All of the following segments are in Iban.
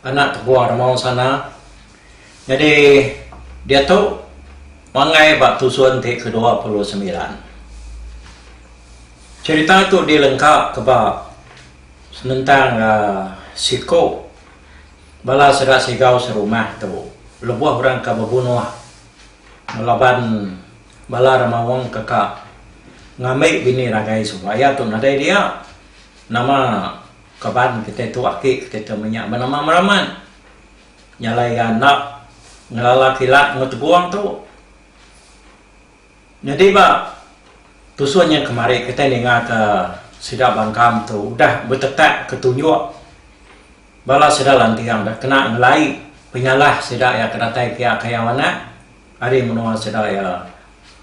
Anak tebuah Ramau Sana nyadi diatu pangai ba tusun ti kedua puluh semilan. Cherita tu dilengka ke ba senentang siku bala sida Sigau serumah tu lebuh orang ke bebunuh laban bala Ramaung ke ka ngambi bini ragai suba iya tu nadai dia nama Kaban kitai tu aki kitai tu menya ba nama meramat nyalai iya enda ngelala kilat enggau tegong tu. Nyadi ba tusun nya kemari kitai ningaka sida bangkam tu udah betetak ke tunjuk bala sida lanting udah kena ngelai penyalah sida iya ke datai pia kayau anak ari menua sida iya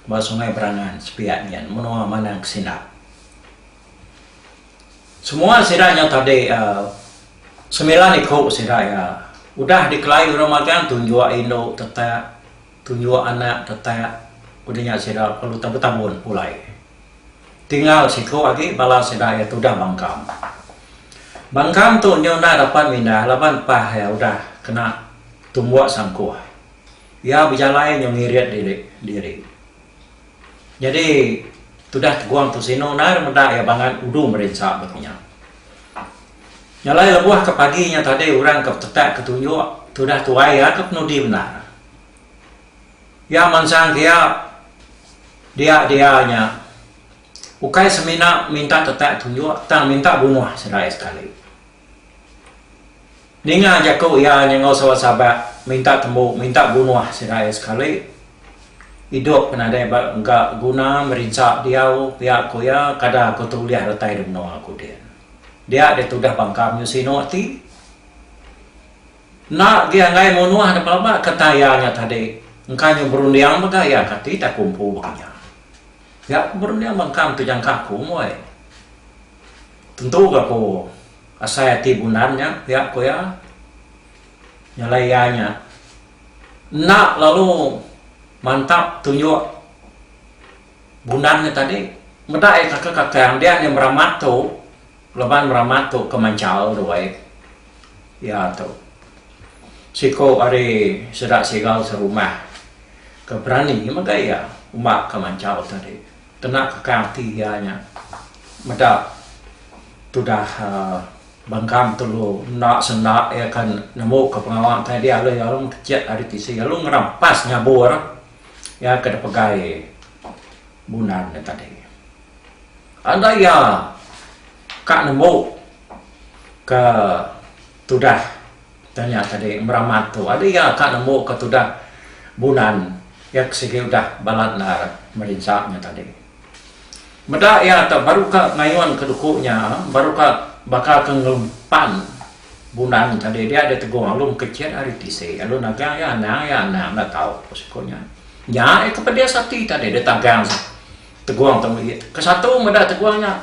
ba Sungai Berangan sepiak nyin menua Manang Kesindap. Semua sida nya tadi semilan iku sida iya udah dikelai orang magang tunjuk indu tetak tunjuk anak tetak udah nya sida perlu tebetabun pulai tinggal siku agi bala sida iya tudah bangkang. Bangkang tu nyau enda dapat mindah laban pah iya udah kena tumbuk sangkuh iya bejalai nyau ngirit diri. Nyadi tudah Teguang Tusino endar meda iya bangat udu merinsa ba kinya. Nya alai lebuh ke pagi nya tadi orang ke betetak ke tunjuk tudah tuai iya ke penudi bendar. Iya mansang ke iya dia-dia nya ukai semina minta tetak tunjuk tang minta bunuh serai sekali. Ninga jaku iya nyengau saban sabat minta tembu minta bunuh segai sekali. Idup ke nadai ba ga guna merinsa diau pia ku iya kada ku tu ulih retai di menua ku din. Dia deh tudah bangka menyuh sinu ati. Enda agi anggai munuh da pelaba ke tang iya nya tadi engka nyuh berunding mega iya ka ti tak ku empu baka nya. Pia ku berunding bangkang tu jangka aku moi. Tentu ga ku asai ati bundan nya pia ku iya. Nyalai iya nya enda lalu mantap tunjuk bundan nya tadi meda iya takak kakang dian iya meramat tu laban meramat tu ke manchal duai iya tu siku ari sida sigal serumah ke berani mega iya umba ke manchal tadi. Kena teka ati iya nya meda tudah bengkang tulu enda senda iya ke nemuka pengawa utai dia lalu iya alu mekecek ari tisi alu ngerampas nyabur iya ke dipegai Bunan nya tadi. Enda iya ka nemu ke tudah. Tanya tadi meramat tu ada iya ka nemu ka tudah bulan iya ke sigi udah balat endar merinsa nya tadi. Meda iya tu baru ka ngayun ka duku nya baru ka baka ka ngelempan bulan tadi dia dia tegung alum kecit ari tisi lalu nagang iya anang iya anang enda tau ku siko nya. Nya iya ke pedis ati tadi dia tagang tegung tu meri ke satu meda tegung nya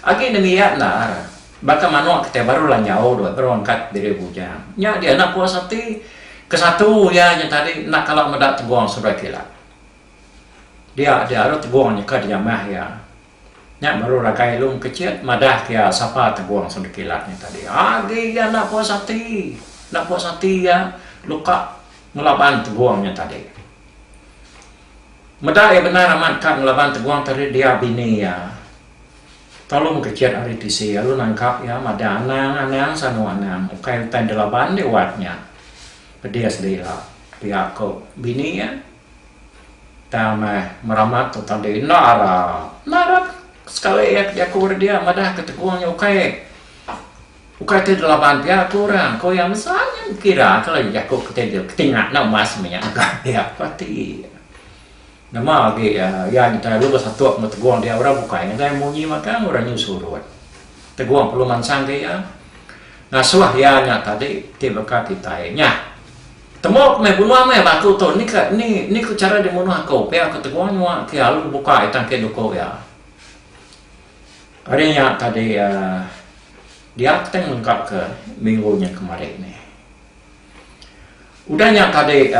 agi nengiyat endar. Baka manuk kitai baru lanjau dua berangkat diri bujang. Nya dia anak puas ati. Kesatu iya nya tadi enda kala meda tegong sebelah kilat. Dia dia aru tegong nyeka dijamah iya. Nya baru ragai Long Kecit madah ke iya sapa tegong sebelah kilat nya tadi. Agi iya enda puas ati. Enda puas ati iya luka ngelaban tegong nya tadi. Meda iya bendar amat ka ngelaban tegong tadi dia bini iya. Talung kecit ari tisi lalu nangkap iya madah anang anang sanu anang ukai utai enda laban deh wat nya pedis deh ila pia ko bini iya tang meh meramat tu tadi enda ara enda ara sekali iya ke jaku ri dia madah ke tekong nya ukai ukai ti laban pia ko orang ko iya mesa nya kira ke lagi jaku ke ti dia ketinga enda mas meh nya agak pia ko ti iya. Nama agi iya ngintai lu besatuk enggau Tegong dia orang bukai ngagai munyi magang orang nyu surut. Tegong perlu mansangka iya. Ngasuh iya nya tadi ti baka kitai nya. Temuk meh bunuh meh batu tu ni ka ni ni ku chara dimunuh aku pia ku Tegong nyua ke alu bukai tangki duku iya. Ari nya tadi dia teng lengkapka minggu nya kemari ni. Udah nya tadi.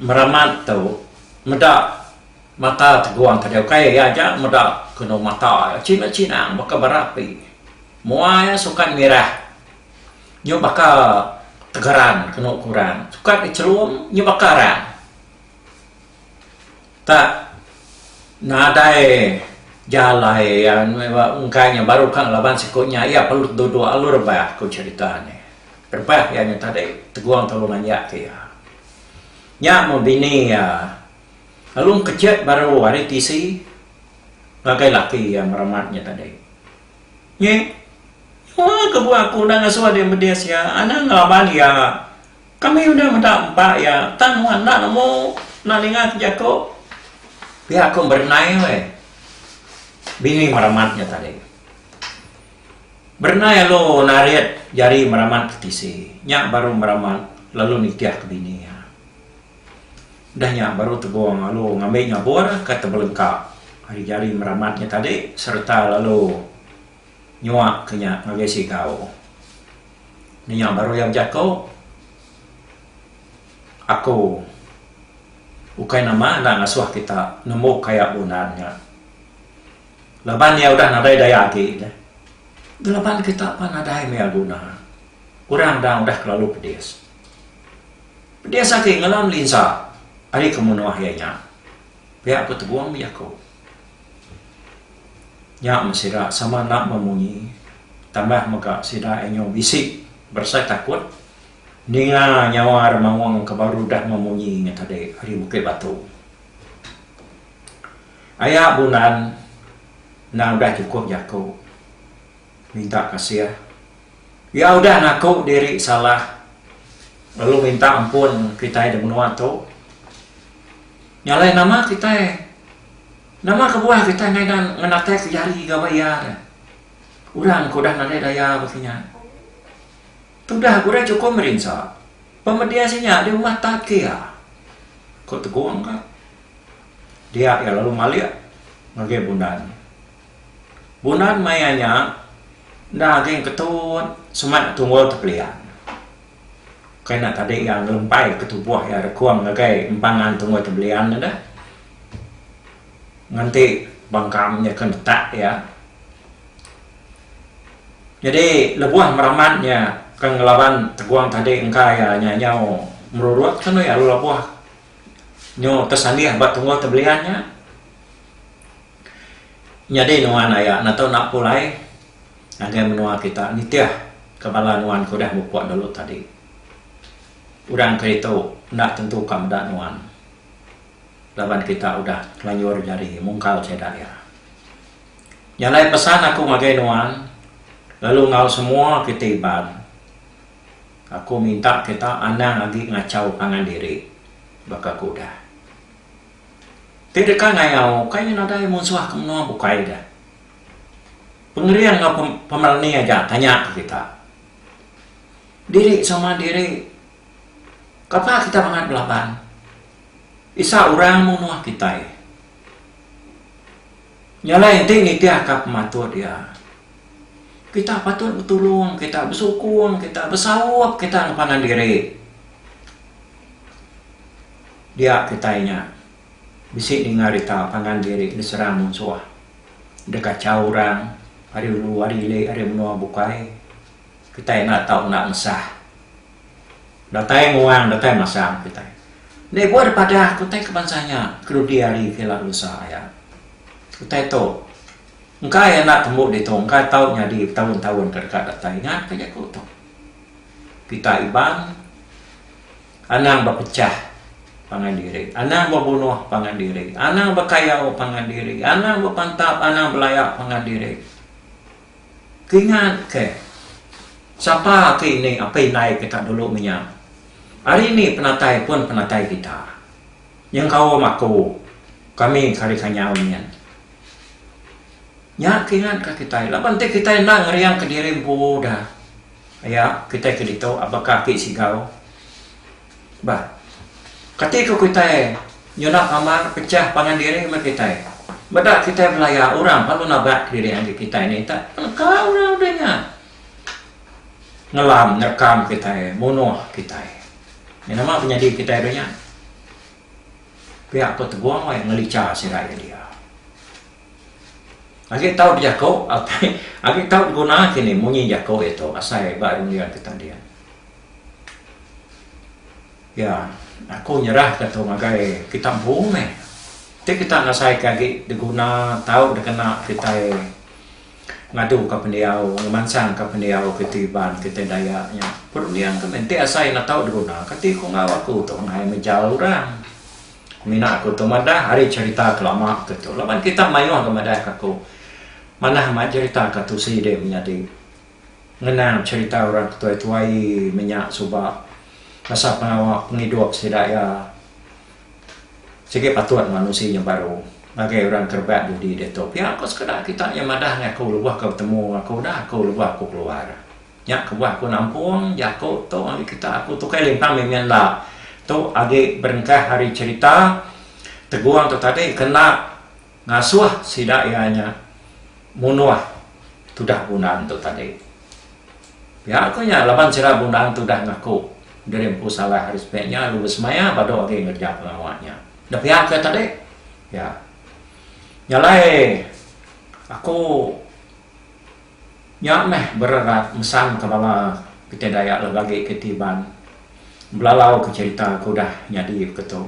meramat tu meda mata teguang ke dia ukai iya aja meda kenu mata iya china china baka bara api mua iya sukat mirah nyu baka tegeran kenu kuran sukat dicherum nyu baka arang. Tak nadai jalai iya engkai nya baru ka laban siku nya iya perlu duduk lalu rebak ku cherita nya. Rebak iya nya tadi tegong tulung aja ke iya. Nya meh bini iya lalu engkechet baru ari tisi ngagai laki iya meramat nya tadi. Nyi nyua ke buah aku enda ngasuh deh medis iya anang laban iya. Kami udah meda empa iya tang nuan enda nemu enda ninga ke jaku. Pia aku berenai weh. Bini meramat nya tadi. Berenai alu narit jari meramat ke tisi. Nya baru meramat lalu nitih ke bini iya. Udah nya baru tegong alu ngambi nyabur ke tebelengka ari jari meramat nya tadi sereta lalu. nyuak ke nya ngagai sikau. Nya baru iya bejako, Aku ukai nama enda ngasoh kita nemu kaya bunan nya. Laban iya udah nadai daya agi deh. Gelaban kita pan nadai maya guna. Orang dang udah kelalu pedis. Pedis agi ngalam linsa ari kemunoh iya nya. Pia ku Tegong bejako. Nya meh sida sama enda memunyi tambah mega sida inyu bisi berasai takut ninga nyawa ari maung ke baru udah memunyi nya tadi ari Bukit Batu. Aya bunan enda udah chukup jaku minta kasih iya udah ngaku diri salah lalu minta ampun kitai di menua tu. Nya alai nama kitai? Nama kebuah kitai ngaida ngenatek jari gawa iya deh? Orang ke udah nadai daya bagi nya. Tudah ke udah chukup merinsa, pemedis inya di rumah tat ke iya, ku Tegong ka. Dia iya lalu malik ngagai Bundan. Bundan maya nya enda agi ngeketu semak tunggul tepelian. Ukai enda tadi iya ngelempai ke tubuh iya rekung ngagai empangan tungui tebelian iya deh. Ngenti bengkam iya ke netak iya. Nyadi lebuh meraman iya ke ngelaban tegung tadi engka iya nyau meruruk tau iya lalu lebuh nyu tesanggih ba tungui tebelian iya. Nyadi nuan iya enda tau enda pulai. ngagai menua kita nitih ke bala nuan ke udah mupuk dulu tadi. Orang keritu enda tentu ka meda nuan laban kita udah kelanjur jari mungkal sida iya. Nya alai pesan aku ngagai nuan lalu enggau semua kitai Iban, aku minta kita anang agi ngachau pangan diri baka ke udah. Ti deka ngayau ukai nadai munsuh ke menua bukai deh. Pengering enggau pemerani aja tanya ke kita. Diri sama diri kapa kita mangat belaban. Isa orang mung nuah kitai. Nya alai enti nitih ka pematut iya. Kita patut betulung kita besukung kita besaup kita ngepangan diri dia kitai nya. Bisi ninga rita pangan diri diserang munsuh. Deka chau orang ari ulu ari ili ari menua bukai. Kitai enda tau enda mesah. Datai nguang datai masang kitai. Enda ibuh deh padah ke utai ke bansa nya ke dudi ari ke ila berusa aya. Utai tu engka iya enda tembu ditu engka tau nyadi betaun-taun ke deka datai. Ingatka jaku tu. Kitai Iban. Anang bepechah pangan diri. Anang bebunuh pangan diri. Anang bekayau pangan diri. Anang bepantap, anang belaya pangan diri. Keingat ke, sapa ke ini apai indai kita dulu menya. Hari ini penatai pun penatai kita. Nyengkaum aku, kami ke ari Kanyau nyin. Nya keingat ke kitai. Laban ti kitai enda ngeriang ke diri empu udah. Aya kitai ke ditu apakah ati sigau bah. Kati ku kitai nyunak amar pechah pangan diri meh kitai. Meda kitai belaya orang lalu nabat kediri agi kitai ni tak neka orang udah nya ngelam nerekam kitai munuh kitai. Nya nama penyadi kitai udah nya. Pia ku Tegong wai ngelicha sida iya dia. Agi tau dijako apai agi tau diguna kini munyi jako iya tu asai ba runding ke tanding. Iya aku nyerah ka tu ngagai kita empu meh ti kita nasai ka agi diguna tau dikena kitai ngadu ka pendiau ngemansang ka pendiau kiti iban kiti Dayak nya perunding ka meh enti asai enda tau diguna kati ku enggau aku tu angai mejal orang. Mina aku tu madah ari cerita ke lama ke tu laban kita mayuh ga madah ka aku manah mai cerita ka tu sidi menyadi ngenang cerita orang ke tuai-tuai menya suba masa pengawa pengidup sida iya sigi patut manusi nya baru ngagai orang ke rebak dudi ditu pia ko sekeda kita nya madah ngan aku lebuh ka betemu ngan aku udah aku lebuh aku keluar. Nya kebuah aku nampung jaku tu ari kitak aku Tukai Limpang mih mih enda. Tu agi berengkah ari cherita Tegung tu tadi kena ngasuh sida iya nya munuh tudah Bundang tu tadi. Pia ku nya laban sida Bundang tu udah ngaku diri empu salah ari sepik nya lalu besemaya badu agi ngereja pengawa nya. Enda pia ke tadi? Pia. Nya alai aku. Nya meh bererat mesangka bala kitai Dayak lalu agi ke ti Iban belalauka cherita ke udah nyadi baka tu.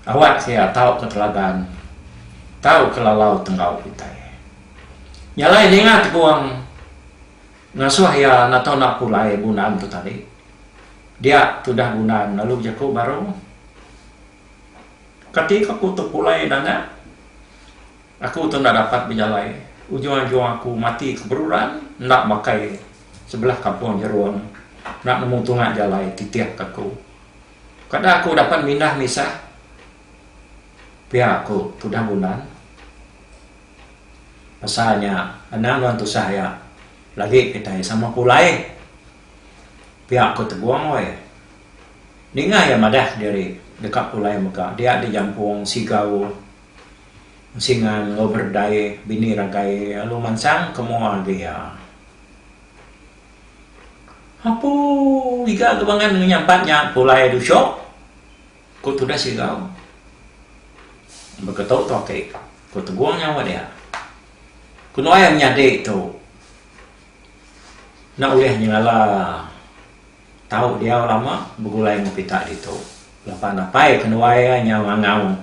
Awak sia tauka teladan, tauka lalau tenggau kitai. Nya alai ninga Tegong ngasuh iya nato enda pulai bunan tu tadi. Dia tudah bunan lalu bejaku baru, Kati ka ku tepulai nanga? Aku tu enda dapat bejalai, ujung-ajung aku mati ke beruran enda bakai sebelah kampung Jerung enda nemu tunga jalai titih ke aku. Kada aku dapat mindah misah pia aku tudah bulan. Pasal nya anang nuan tusah iya lagi kitai sama pulai pia aku tegung weh. Ninga iya madah diri deka pulai mega dia dijampung Sigau. Singa enggau berdai bini ragai lalu mansang ke mua agi iya. Apu iga ke bangan ngenyah empat nya pulai dusok, ku tudah Sigau. Baka tu tu aki, ku Tegong nyaut iya. Ku nuai menyadi tu enda ulih nyengala. tau diau lama begulai enggau pita ditu laban napai kenuai iya nyau ngangau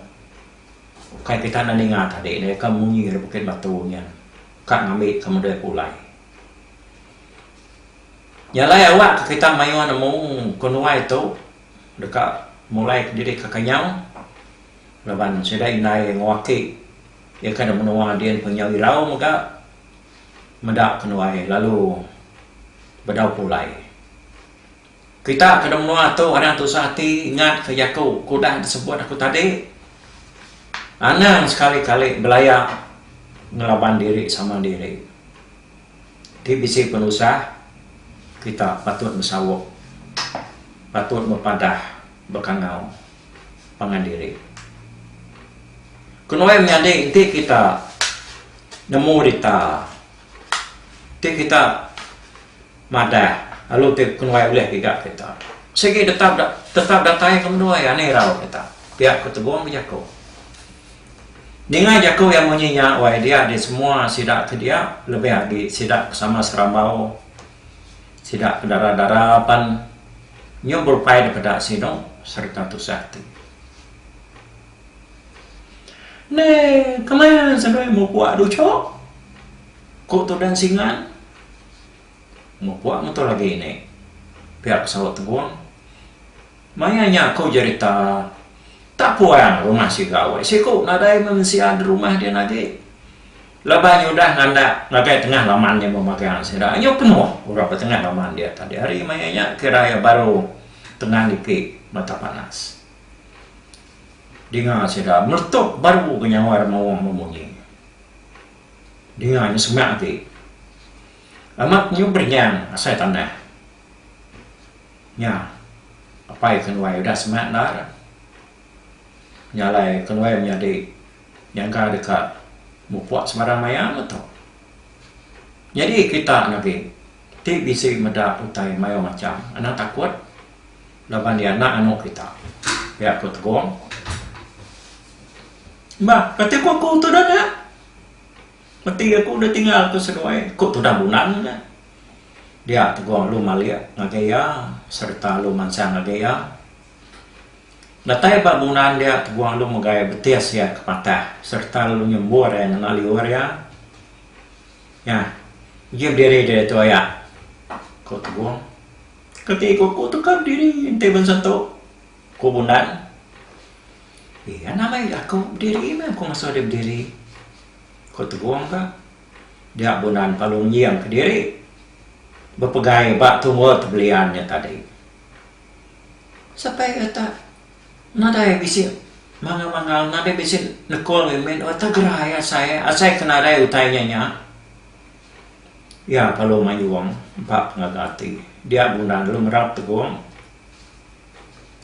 ukai pita enda ninga tadi nya ika munyi ari bukit batu nya ka ngambi ka meda iya pulai. Nya alai awak ka kita mayuh nemu kenuai tu deka mulai diri ka kenyau laban sida indai enggau aki iya ka da menua din pengenyau irau mega. meda ke nuai lalu bedau pulai. Kita ke de menua tu anang tusah ati ingat ke jaku ke udah disebut aku tadi anang sekali kali belaya ngelaban diri sama diri. Ti bisi penusah kita patut besauk patut bepadah bekangau. pangan diri. Kenu iya menyadi enti kita nemu dita ti kita madah lalu ti kenuai ulih giga kita. Sigi tetap tetap datai ke menua iya ni rau kita. Pia ku Tegong bejaku. Ninga jaku iya munyi nya wai dia disemua sida ke dia lebih agi sida ke sama Serambau. Sida ke dara-dara pan nyau berupai depeda sinu sereta tusah ati. Enda keman senoi mupuk duchok, ku Tudan Singan. Mupuk metu agi ni, pia ku saut Tegung. Maya nya aku jerita tak puang rumah siga weh siku nadai mensia derumah din agi. Laban nya udah ngandak ngagai tengah laman nya memagang sida nya penuh orang ba tengah laman dia tadi hari maya nya kira iya baru tenang niki mata panas dinga sida meletup baru ga nyawa ri maong memunyi dinga nya semak agi amat nyu beringang asai tanah nya apai ke nuai udah semak endar. Nya alai kenuai menyadi nyangka deka mupuk sebarang maya meh tu. Nyadi kita ne agi ti bisi meda utai mayuh macham anang takut laban iya anak anu kita, pia ku Tegong. Ba kati ku aku tudan nya? Peti aku udah tinggal ku seduai, ku tudan Bunan nya. Dia Tegong lu malik ngagai iya sereta lu mansang ngagai iya. Datai ba bunan dia tebuah lu megai betis ia ke patah sereta lalu nyembur ia ngena liur ia. Nya, uji bediri diri tu aya, ku Teguh. Ke ti ku aku tu ka bediri enti ben sentu, ku Bundan. Iya nama iya aku bediri meh aku ngasuh dia bediri, ku Teguh ka. Dia Bundan pa lu nginjing kediri bepegai ba tunga tebelian nya tadi. Sapai eta nadai bisi mangal-mangal, nadai bisi nekul ngagai mit, eta gerai asai, asai ke nadai utai nya nya. Iya perlu mayung ba pengaga ati. Dia bundang dulu merap tegong.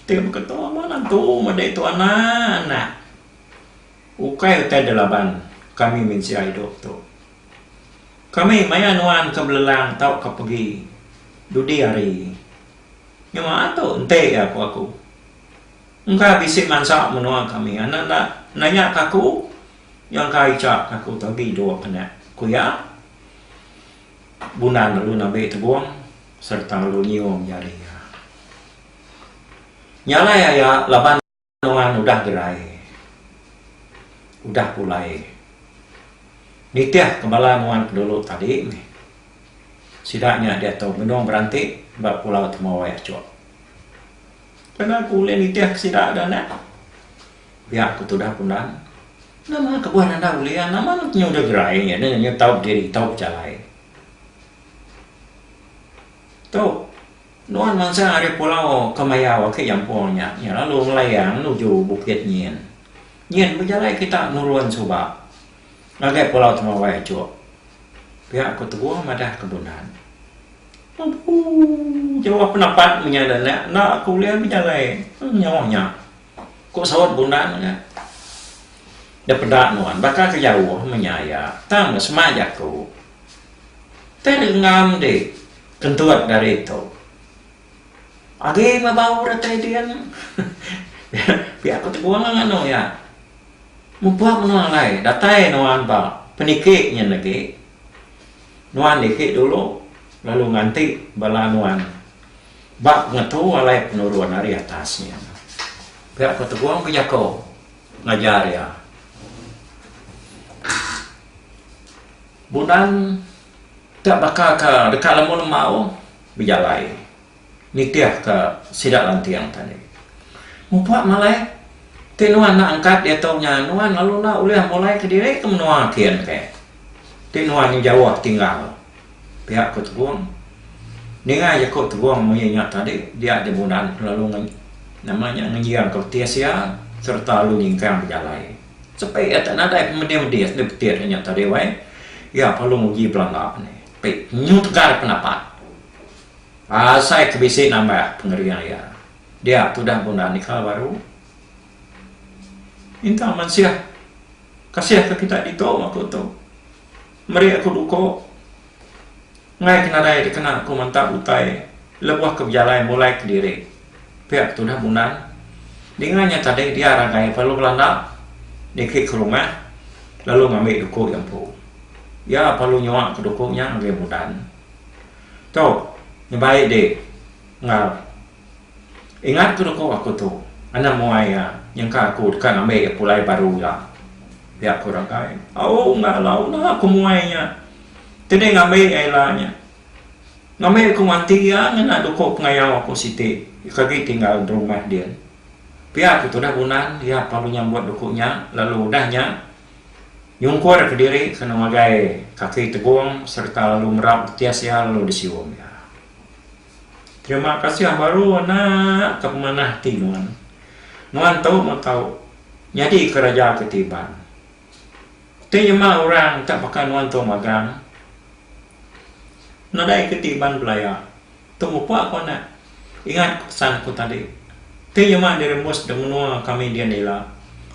Ti baka tu amat antu madi tu anak-anak. Ukai utai da laban kami mensia idup tu. Kami maya nuan ke belelang tauka pegi dudi hari. Nyema tu enti iya ku aku. Engka bisi mansa menua kami enda enda nanya ke aku nyangka icha ke aku tu agi dua penak, ku iya. Bundan lalu nabi tebung sereta lalu nyium jari iya. Nyalai aya laban. Nuan udah gerai. Udah pulai. Nitih ke bala nuan pendulu tadi mih. Sida nya diatu benung beranti ba Pulau Temawai Achok. Kena aku ulih nitih ke sida da nek? Pia aku tudah Kundan. Nama kebuah nanda ulih iya? Nama nuan ke nya udah gerai? Nya tau bediri, tau bejalai. Tu, nuan mansa ari pulau ke mayau agi nyampung nya, iya lalu ngelayang nuju Bukit Nyin. Nyin bejalai kita nurun suba ngagai pulau Temawai tu. Pia ku Teguh madah ke Bunan. Abu! Jauh pendapat menya enda enda ke ulih bejalai. Nyauh nya. Ku saut Bundang nya. Da peda nuan baka ke jauh menya iya. Tang ne semak jaku. Tei rengam di kentut daritu. Agi meh bau retai din. Pia ku Teguang nganu iya. Mupuk menua alai datai nuan ba peniki nyin agi. Nuan dikit dulu lalu nganti bala nuan. Ba ngetu alai penurun ari atas nya, pia ko Tegong bejako ngajar iya. Bunan te baka ka deka lemu lemau bejalai nitih ka sida lanting tadi. Mupa malai ti nuan enda angkat diatu nya nuan lalu enda ulih mulai kediri ke menua kin ke ti nuan nya jauh tinggal Pia ku Tebong. Ninga jaku Tebong munyi nya tadi dia Jemunan kelalu nama nya ngenjing ka betih sia sereta lalu nyingkang bejalai. Sepi iya tak nadai pemedih-medih sida beti deh nya tadi wai. Iya perlu nguji belanda ni. Tapi nyu tegal pendapat. Asai ke bisi nambah pengering iya. Dia tudah bunda nikal baru. Minta mansih kasih ka kita ditu aku tu. Meri aku duko ngai ke nadai dikena ku menta utai leboh ke bejalai mulai kediri pia ke tudah bunan dinga nya tadi dia ragai pelu belanda niki ke rumah lalu ngambi duko iya empu iya pelu nyua ke duko nya ngagai bunan tu nyebai di ngal Ingat tu deko aku tu anang muai iya nyengka aku deka ngambi pulai baru ila. Pia aku ragai. Au ngalau enda aku muai nya. Keni ngambi ai ila nya. Ngambi aku manti iya ngena doko pengayau aku siti ika agi tinggal rumah din. Pia aku tudah bunan iya pelalu nyambut doko nya lalu udah nya nyungkur ke diri kena ngagai kaki tegong sereta lalu merap betis iya lalu disium iya. Terima kasih baru anak ke pemanah ati nuan. Nuan tu meh tau nyadi ke raja ke ti iban. Ti nyema orang enta baka nuan tu magang. Nadai ke ti iban belaya. Tu mupa ku anak. Ingat ku pesan aku tadi. Ti nyema diri mus da menua kami dian ila.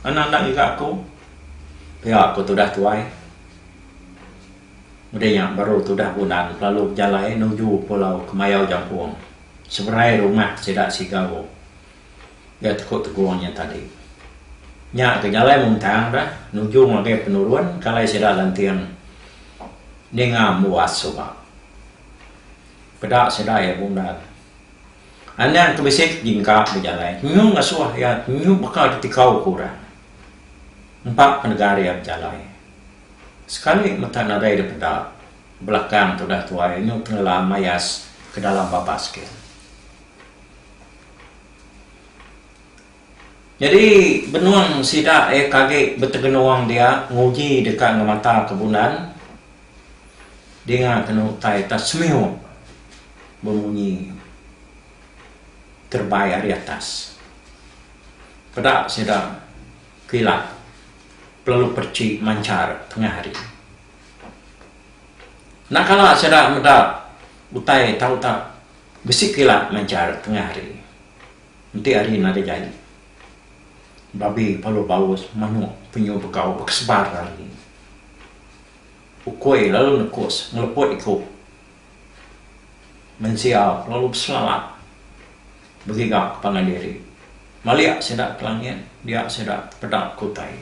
Anak enda ngiga aku. Pia ku tudah tuai. Udah nya baru tudah Bunan kelalu bejalai nuju pulau Kemayau Jampung, seberai rumah sida Sigau ga Teku Tegong nya tadi. Nya ke jalai muntang dah nuju ngagai penurun kalai sida Lanting ninga embuas suba. Peda sida iya Bunan. Anang ke bisi ke jingka bejalai nyu ngasuh iya nyu baka ditikau ke orang. Empa pendegar iya bejalai. Sekali mata nadai da peda, belakang tudah tuai inu tengelam mayas ke dalam babas ke. Nyadi benung sida iya ke agi betegenung dia nguji deka ngemata ke bunan dinga kena utai atas semiu bemunyi terebai ari atas. Peda sida Kilat pelalu perchi manchar tengah hari. Enda kala sida meda utai tau tak bisi kilat manchar tengah hari. Enti hari nadai jai, babi pelalu baus manuk penyu begau bekesebar ari. Ukui lalu nekus ngeleput iku. Mensia kelalu beselalat begiga ke pangan diri. Malik sida ke langit, dia sida ke peda ke utai.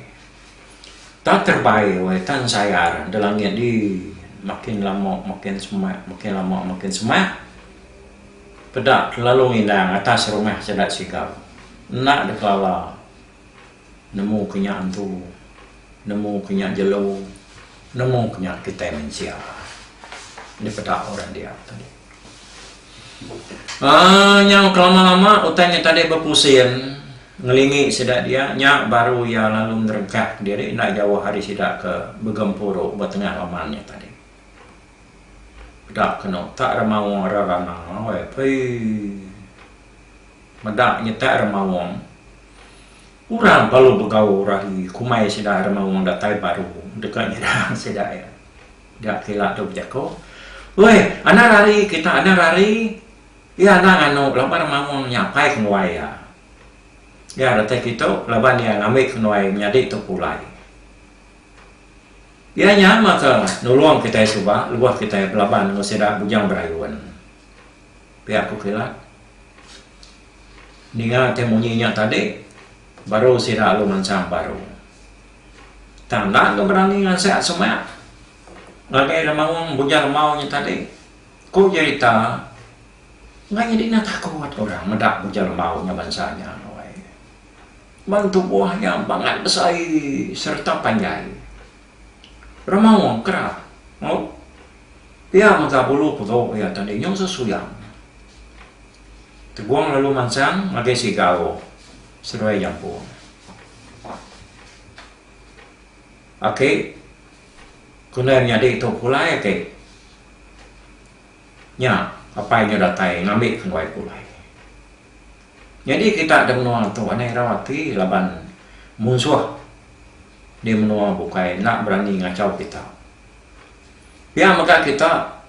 Tang terbai wai tang sayar de langit di makin lama makin semak makin lama makin semak peda kelalu ngindang atas rumah sida siga enda de kelala. Nemu ke nya entu. Nemu ke nya jelu. Nemu ke nya kitai mensia. Dipeda orang dia tadi. Aaa nyau kelama-lama utai nya tadi bepusing ngelingi sida dia nya baru iya lalu ngerengkah diri enda jauh ari sida ke begempuru ba tengah laman nya tadi. Peda kenu tak remawa reranau ai pee. Meda nyetak Remaung, orang balu begaul rahi kumai sida Remaung datai baru deka nyerang sida iya. Ga kila tu bejaku, Weh, anang ari kita anang ari iya anang anu laban Remaung nya apai kenuai iya. Iya datai kitu laban iya ngambi kenuai menyadi tu pulai. Iya nya meh ke nulung kitai suba lebuh kitai belaban enggau sida Bujang Berayun. pia aku kira ninga ke munyi nya tadi baru sida lalu mansang baru tang enda ke berani ngansek semak ngagai orang maong bujang rambau nya tadi ku jerita enda nyadi enda takut orang meda bujang rambau nya bansa nya ban tubuh nya bangat besai sereta panjai. Rama Wong kerap maut pia mega bulu pego iya tadi nyau sesuyang. Tegong lalu mansang ngagai siga ago seduai jampung. Aki ke enda nyadi tu pulai aki nya apai nya datai ngambi ke duai pulai. Nyadi kita da menua tu anang irau ati laban munsuh di menua bukai enda berani ngachau kita. Pia mega kita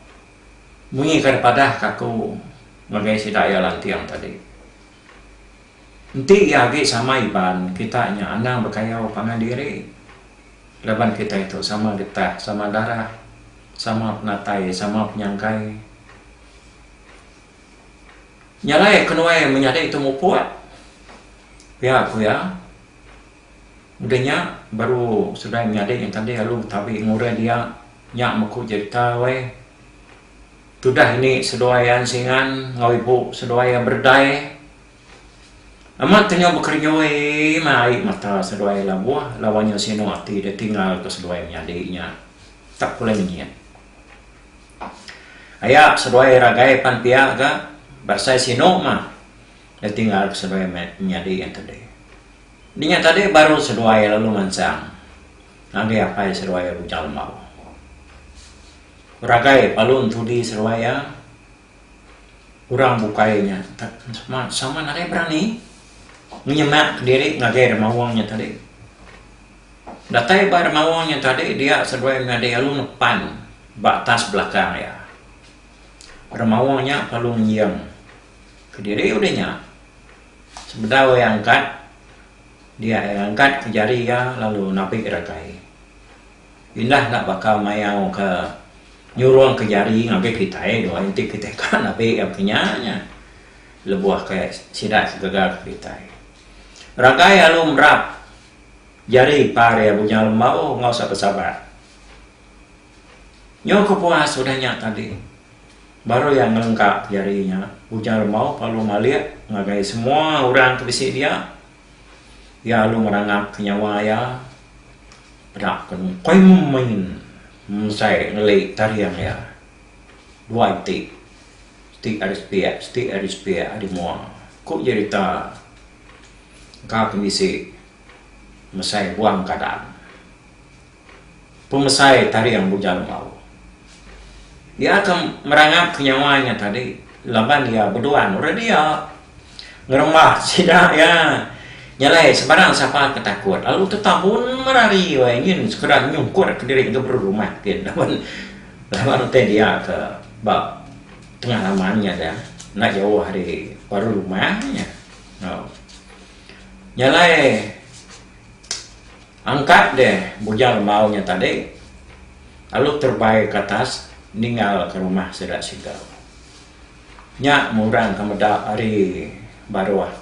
munyi kada padah ka aku ngagai sida iya lanting tadi. Enti iya agi sama Iban kita nya anang bekayau pangan diri laban kitai tu sama getah sama darah sama penatai sama penyangkai. Nya alai ke nuai menyadi tu muput pia ku iya meda nya baru sudah menyadi nya tadi lalu tabi ngurai dia nya meku jerita weh tudah ini seduai an singan enggau ibu seduai an berdai amat ke nyau bekerenyui meh ai mata seduai labuh laban inya sinu ati dia tinggal ke seduai menyadi nya tak pulai ngenyit. Aya seduai ragai pan pia ga bersai sinu mah ditinggal ke seduai menyadi yang tadi. Dinya tadi baru seduai lalu mansang ngagai apai seduai Bujang Lembau. Ragai palu entudi seduai iya. orang bukai nya sama nadai berani nyemak diri ngagai remaung nya tadi. Datai ba remaung nya tadi dia seduai nyadi alu ngepan ba atas belakang iya. Remaung nya perlu ngium kediri udih nya sebedau iya angkat dia iya angkat jari iya lalu napi ragai. Indah enda baka mayau ke nyurungka jari ngagai kitai dua enti kitai ka nabi iya baka nya nya lebuh ke sida ke gegar ke kitai. Ragai alu merap jari par iya Bujang Lembau enggau Sapa Sabat. Nyu kepuas udah nya tadi baru iya ngelengkap jari nya Bujang Lembau perlu malik ngagai semua orang ke bisi dia. Iya alu ngerangapka nyawa iya peda ke koi main mesai ngeli taring iya. Dua iti, siti ari sepiak, siti ari sepiak ari mua, ku jerita engka ke bisi mesai buang kadang. pemesai taring Bujang Embau. Iya ke merangapka nyawa nya tadi laban iya beduan orang dia. Ngerembah sida iya nyelai sebarang sapa ke takut lalu tetabun merari wai nyin sekeda nyungkurka diri ke berumah gin laban laban utai dia ke ba tengah laman nya dia enda jauh ari baru rumah nya. Nyelai. Angkat deh bujang embau nya tadi lalu terbai ke atas ninggal ke rumah sida siga. Nya murang ke meda ari baruh.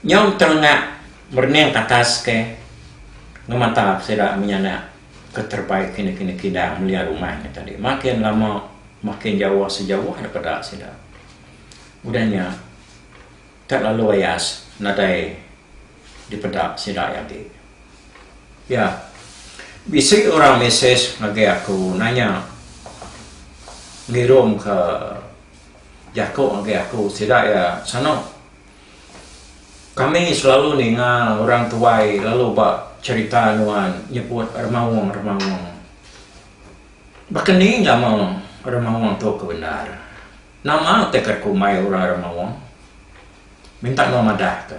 Nyau terengak merening ke atas ke ngemata sida menyanak ke terbai kini kini kidang melia rumah nya tadi makin lama makin jauh sejauh daripada sida. Udah nya. Ka lalu ayas nadai dipeda sida aja agi. Ya, bisi orang mesej ngagai aku nanya ngirumka jaku ngagai aku sida iya sanu. Kami selalu ninga orang tuai lalu ba cherita nuan nyebut remaung-remaung. Baka ni nama remaung tu ke bendar? Nama teka ku mai orang ra maong minta nuan madah ka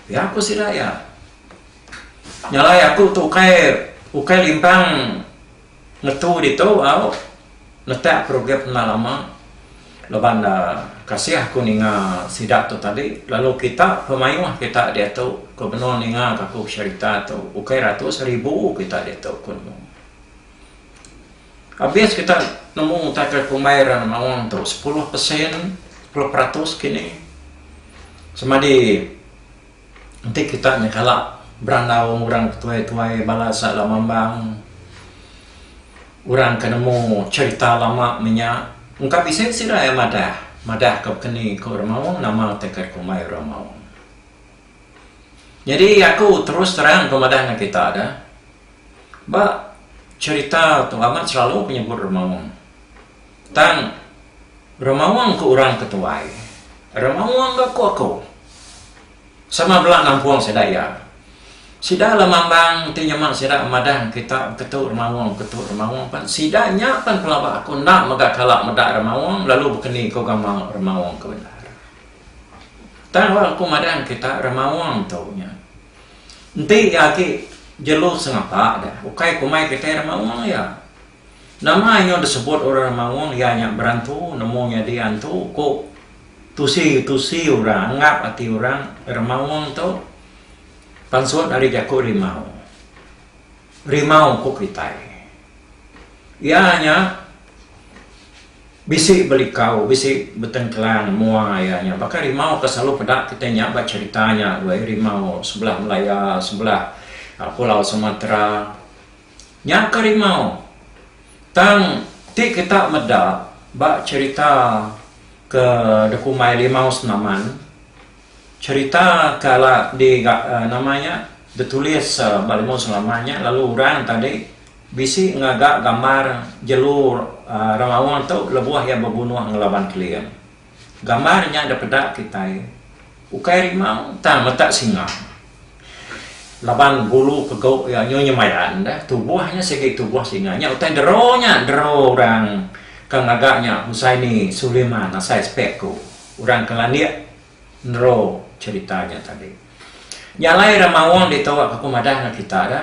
ya ku sida ya nyalai aku tu ukai ukai limpang ngetu ditu au netak program pena lama laban kasih aku ninga sida tu tadi lalu kita pemayuh kita diatu ke benung ninga ka aku serita tu ukai ratus ribu kita ditu ku nemu. Abis kita nemu taja kumbai ra maong tu sepuluh persen sepuluh peratus kini semadi enti kita nya kala berandau orang ke tuai-tuai bala asa Lamambang orang ke nemu cherita lama menya engka bisi bisi ira iya madah madah ka baka ni ku ra maong nama tagal kumbai ra maong. Nyadi aku terus terang ku madah ngan kita da. Ba cherita tu amat selalu ke nyebut remaung. Tang remaung ke orang ke tuai, remaung ke aku aku. Sama bela nampung sida iya. Sida la mambang enti nyema sida madah kita beketu remaung beketu remaung pan sida nya pan pelaba aku enda mega kala meda remaung lalu bekeni ku gawa remaung ke bendar. Tang aku madah kita remaung tu nya. Enti iya agi jelu sengapa da, ukai kumai kitai remaung iya. Nama nyau disebut orang remaung iya nya berantu nemu nyadi antu ku tusi tusi orang anggap ati orang remaung tu pansut ari jaku rimau. Rimau ku kitai. Iya nya. Bisi belikau, bisi betengkelang mua iya nya. Baka rimau ka selalu peda kitai nya ba cherita nya weh, rimau sebelah Malaya, sebelah pulau Sumatra. Nya ka rimau. Tang ti kita meda ba cherita ke dikumbai Limau Senaman, cherita ke ala di ga nama nya ditulis ba Limau Senaman nya lalu orang tadi Bisi ngaga gambar jelu Rengawong tu lebuh iya bebunuh ngelaban Keling. Gambar nya dipeda kitai ukai rimau tang meta singa. Laban bulu pegu iya nyu nyemayan deh tubuh nya sigi tubuh singa nya utai dero nya dero orang ke ngaga nya Husaini Suliman asai spek ku orang ke landik nero cherita nya tadi. Nya alai Remawong ditu aku madah enggau kita da.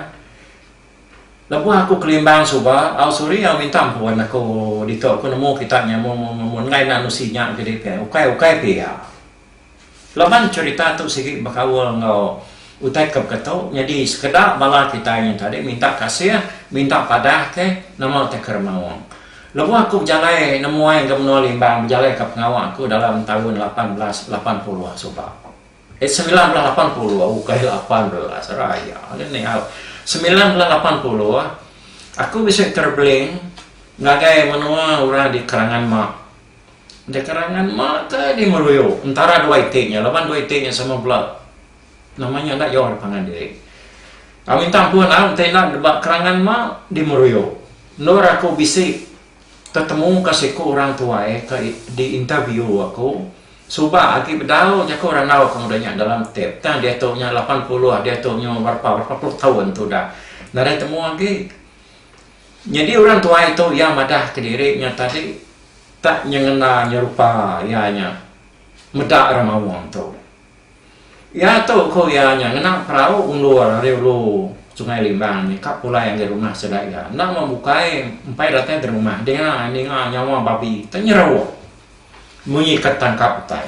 Lebuh aku kelimbang suba, au Suri au minta empun aku ditu aku nemu kita nya mung mun enggai nan usi nya jadi pia ukai ukai pia. Laban cherita tu sigi bekaul enggau utai ke beka tu nyadi sekeda bala kitai nya tadi minta kasih minta padah ke nama utai ke remaung. Lebuh aku bejalai nemuai enggau menua Limbang bejalai ka pengawa aku dalam taun lapan belas lapan puluh suba. It semilan belas lapan puluh ukai lapan belas raya ngini au semilan belas lapan puluh aku bisi travelling ngagai menua orang di kerangan mak di kerangan mak ke di ngeruyo entara dua iti nya laban dua iti nya sama bela nama nya enda jauh pangan diri au minta ampun au enti enda ba kerangan mak di meruyo endor aku bisi tetemuka siku orang tuai ke di interview aku suba agi bedau jaku randau aku meda nya dalam tip tang diatu nya lapan puluh diatu nya berapa berapa puluh taun tu dah nadai temu agi nyadi orang tuai tu iya madah kediri nya tadi tak nyengena nyerupa iya nya meda ra maung tu. Iya tu ku iya nya ngena perau undur ari ulu Sungai Limbang nya ka pulai ngagai rumah sida iya. Enda mah bukai empai datai di rumah dinga ninga nyawa babi tu nyeruk munyi ka tangkap utai.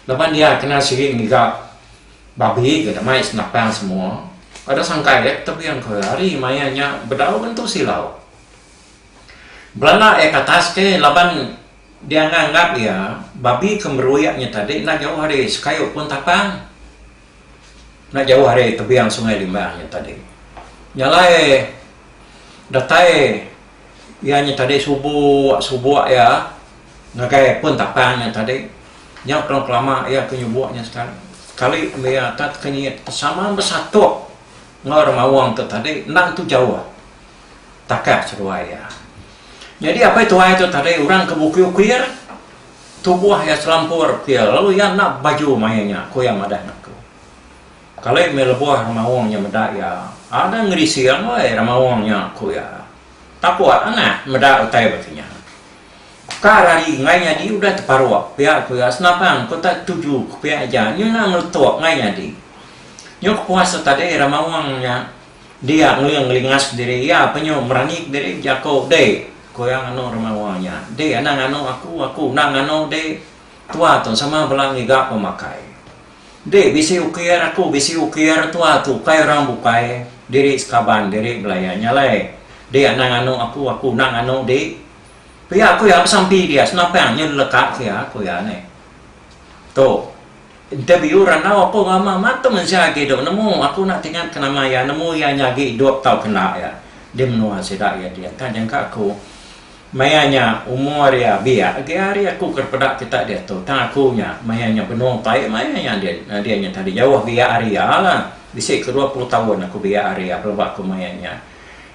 Laban dia kena sigi ngiga babi ga damai senapang semua. Kada sangka iya ka tebing ku iya ari maya nya bedau ngentu silau. Belanda iya ka atas ke laban. Dia nganggap iya, babi ke meruyap nya tadi enda jauh ari sekayu pun tapang. Enda jauh ari tebiang Sungai Limbang nya tadi. Nya alai datai iya nya tadi subuk-subuk iya ngagai pun tapang nya tadi. Nya pun kelama iya ke nyubuk nya sekali. Sekali mih iya atat ke nyiyit ke sama besatuk enggau orang mawang tu tadi enda tentu jauh. takah seduai iya. Nyadi apai tuai tu tadi orang ke bukir-ukir, tubuh iya selampur ukir lalu iya enda bebaju maya nya, ku iya madah ngaku. Kali meh lebuh remaung nya meda iya, ada ngerisi angai remaung nya, ku iya. Taput anah meda utai baka nya. Kar ari enggai nyadi udah teparuk pia ku iya senapang ku tak tuju ke pia aja nyuna ngeletuk enggai nyadi. Nyuk puas tu tadi remaung nya. Dia Nguling ngelingas diri iya penyu merani ke diri jako deh ko iya nganu remawa nya deh anang nganu aku aku enda nganu deh tua tu sama bela ngiga pemakai deh bisi ukir aku bisi ukir tua tu ukai orang bukai diri sekaban diri belaya nya alai deh anang nganu aku aku enda nganu deh pia ko iya besampi dia senapang nyu leleka ke iya ko iya neh tu. Interview, Randau apo ngama matem enzia agi dok nemu, aku enda tingat ke nama iya, nemu iya nya agi idop tau kenda iya di menua sida iya dia enta jangka aku maya nya umur iya biak agi ari aku ke peda kita diatu tang aku nya maya nya benung pai maya nya dia dia nya tadi jauh biak ari iya la bisi ke dua puluh taun aku biak ari iya pelaba aku maya nya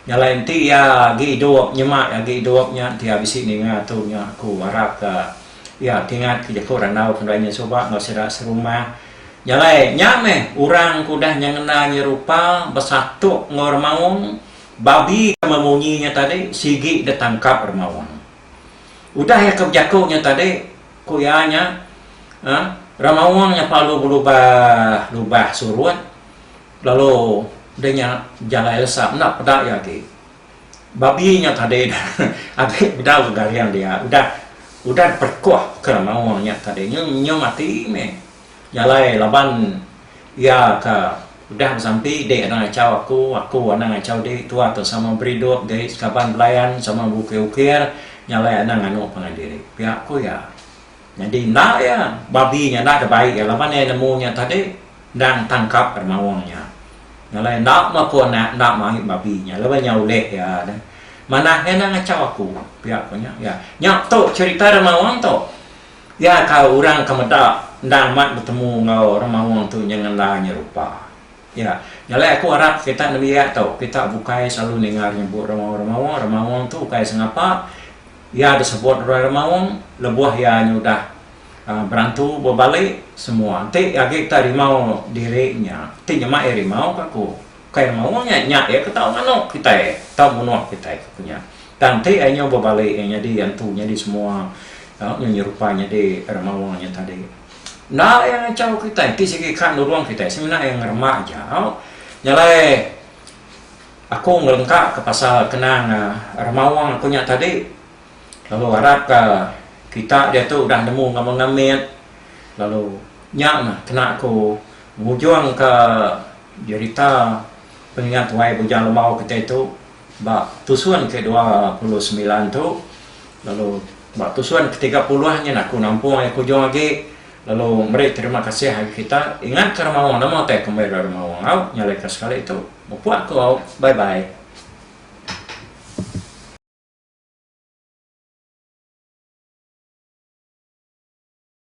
nyalai enti iya agi idop nyema agi idop nya enti iya bisi ninga tu nya aku arap ka Iya ti ngat jeku randau ke ndai nyesuba enggau sida serumah. Jalai nya meh orang ke udah nyengena nyerupa besatuk enggau remaung babi ke memunyi nya tadi sigi deh tangkap remaung. Udah iya ke bejaku nya tadi ku iya nya uhh remaung nya pelalu belubah lubah surut lalu deh nya jalai lesa enda peda iya agi. Babi nya tadi agi bedau ke garing dia udah udah diperkuh ke maong nya tadi nyu nyu mati meh nya alai laban iya ke udah besampi dik anang achau aku aku anang achau dik tuak ke sama beridup jai sekaban belayan sama bukir-ukir nya alai anang anu pangan diri pia ku iya. Nyadi enda iya, babi nya enda ada baik iya laban iya nemu nya tadi endang tangkap ari maung nya. Nya alai enda meh aku anak enda mai babi nya laban nya ulih iya deh. Manah iya enda ngachau aku, pia ku nya. Iya, nya tu cherita ari maung tu. Iya ka orang ka meda endang amat betemu enggau orang maung tu nya ngendai nya rupa. Ya, jalai aku arap kita nembiak tu, kita bukai selalu ninga nyebut remaung-remaung, remaung tu ukai sengapa iya disebut orang remaung lebuh iya nyudah berantu bebali semua enti agi kita rimau diri nya ti nyema iya rimau ka ku ukai remaung nya, nya iya ke tau manuk kitai, tau munuh kitai ka ku nya. Tang enti iya nyau bebali iya nyadi antu nyadi semua, tau nyerupai nyadi remaung nya tadi. Enda iya ngachau kitai ti sigi ka nulung kitai semina iya ngerema aja. Nya alai aku ngelengkaka pasal kenang remaung aku nya tadi lalu harapka kita diatu udah nemu ngemanga mit lalu nya mah kena aku ngujungka jerita pengingat wai bujang lemau kitai tu. Ba tusun ke dua puluh semilan tu lalu ba tusun ke tiga puluh nyin aku nampung iya ke ujung agi lalu meri terima kasih agi kita ingat ke remaung nama utai ke meri remaung au nyalai ke sekali tu mupuk aku au bye bye.